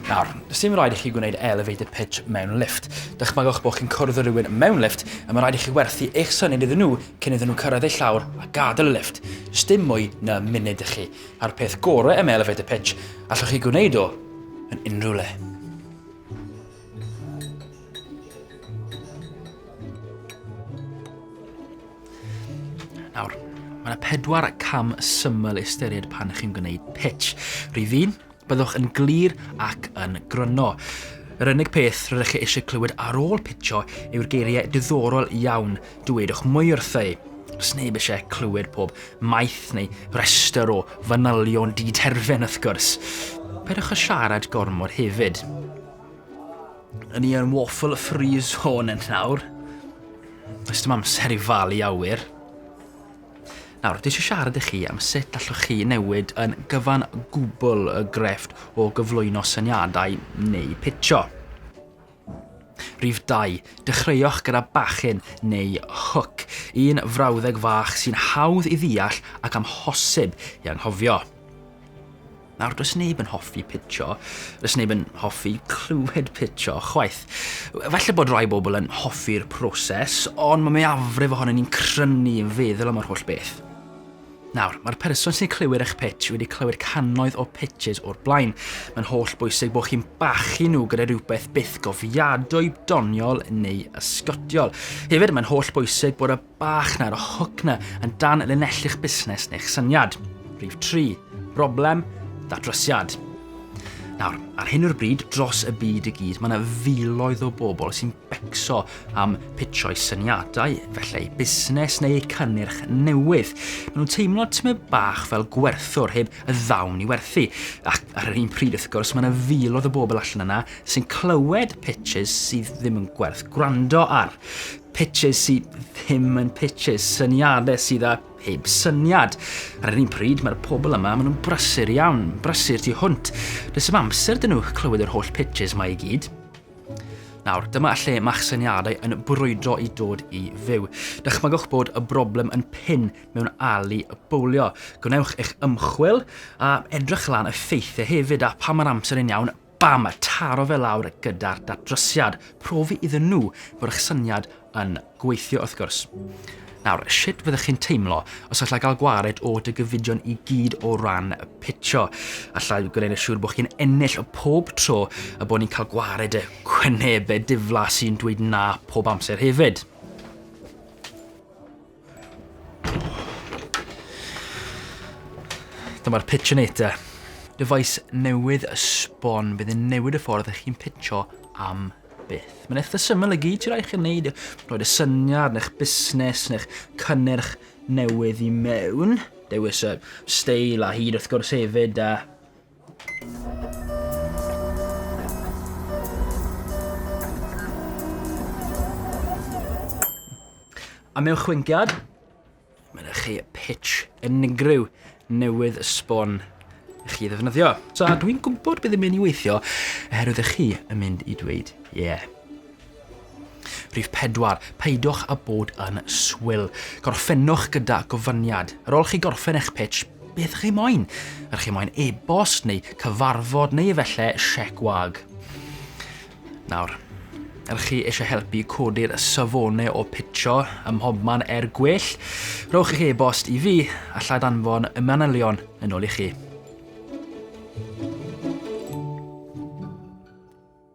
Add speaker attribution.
Speaker 1: Nawr, does dim rhaid i chi gwneud elevated pitch mewn lift. Dychmygwch bod chi'n cwrdd â rhywun mewn lift a mae rhaid i chi werthu eich syniad iddyn nhw cyn iddyn nhw cyrraedd eu llawr a gadael y lift. Does dim mwy na munud i chi. A'r peth gorau am elevated pitch, allwch chi gwneud o yn unrhyw le. Nawr, mae yna pedwar cam syml ystyried pan chi'n gwneud pitch. Rhyw un, byddwch yn glir ac yn gryno. Yr unig peth rydych chi eisiau clywed ar ôl pitcho yw'r geiriau diddorol iawn dywedwch mwy wrthau. Os neb eisiau clywed pob maith neu restr o fanylion di-terfen wrth gwrs. Peidiwch â siarad gormod hefyd. Yn i yn waffle free zone yn nawr. Does dim amser i falu awyr. Nawr, dwi eisiau siarad i chi am sut allwch chi newid yn gyfan gwbl y grefft o gyflwyno syniadau neu pitio. Rhif 2. Dechreuwch gyda bachyn neu hook, un frawddeg fach sy'n hawdd i ddeall ac amhosib i anghofio. Nawr, does neb yn hoffi pitcho, does neb yn hoffi clywed pitcho, chwaith. Falle bod rhai bobl yn hoffi'r proses, ond mae mwyafrif ohonyn ni'n crynu yn feddwl am yr holl beth. Nawr, mae'r person sy'n clywir eich pitch wedi clywed cannoedd o pitches o'r blaen. Mae'n holl bwysig bod chi'n bachu nhw gyda rhywbeth byth gofiadwy, doniol neu ysgotiol. Hefyd, mae'n holl bwysig bod y bach na yr hook na yn dan linellu'ch busnes neu'ch syniad. Rhif 3. Broblem, datrysiad. Nawr, ar hyn o'r bryd, dros y byd i gyd, mae yna filoedd o bobl sy'n becso am pitsio'i syniadau, felly eu busnes neu eu cynnyrch newydd. Maen nhw'n teimlo tymed bach fel gwerthwr heb y ddawn i werthu. Ac ar yr un pryd, wrth gwrs, mae yna filoedd o bobl allan yna sy'n clywed pitches sydd ddim yn gwerth gwrando ar. Pitches sy ddim yn pitches, syniadau sydd â heb syniad. Ar yr un pryd, mae'r pobl yma, maen nhw'n brysur iawn, brysur tu hwnt. Does dim amser dyn nhw clywed yr holl pitches mae i gyd. Nawr, dyma lle mae'ch syniadau yn brwydro i dod i fyw. Dychmygwch bod y broblem yn pin mewn ali y bowlio. Gwnewch eich ymchwil a edrych lan y ffeithiau hefyd a pa mae'r amser yn iawn Bam! a taro fe lawr gyda'r datrysiad, profi iddyn nhw fod eich syniad yn gweithio wrth gwrs. Nawr, sut fyddech chi'n teimlo os allai gael gwared o dy gyfidion i gyd o ran y pitio? Allai gwneud yn siŵr bod chi'n ennill o pob tro a bod ni'n cael gwared y cwynebau diflas sy'n dweud na pob amser hefyd. Dyma'r Pitchinator. Dyfais newydd y sbon fydd yn newid y ffordd ych chi'n pitcho am byth. Mae'n eitha syml y gyd ti'n rhaid chi'n neud, roed y syniad neu'ch busnes neu'ch cynnyrch newydd i mewn. Dewis y steil a hyd wrth gwrs hefyd a Am eich chwyngiad, mae yna chi pitch unigryw newydd sbon i chi ddefnyddio. So, dwi'n gwybod bydd yn mynd i weithio, oherwydd ych chi yn mynd i dweud, ie. Yeah. Rhif pedwar, peidiwch â bod yn swil. Gorffennwch gyda gofyniad. Ar ôl chi gorffen eich pitch, beth chi moyn? Ydych chi moyn e-bost neu cyfarfod neu efallai siec wag? Nawr, ydych chi eisiau helpu codi'r safonau o pitcho ym mhobman er gwell? Rhowch eich e-bost i fi, a llaid anfon y manylion yn ôl i chi.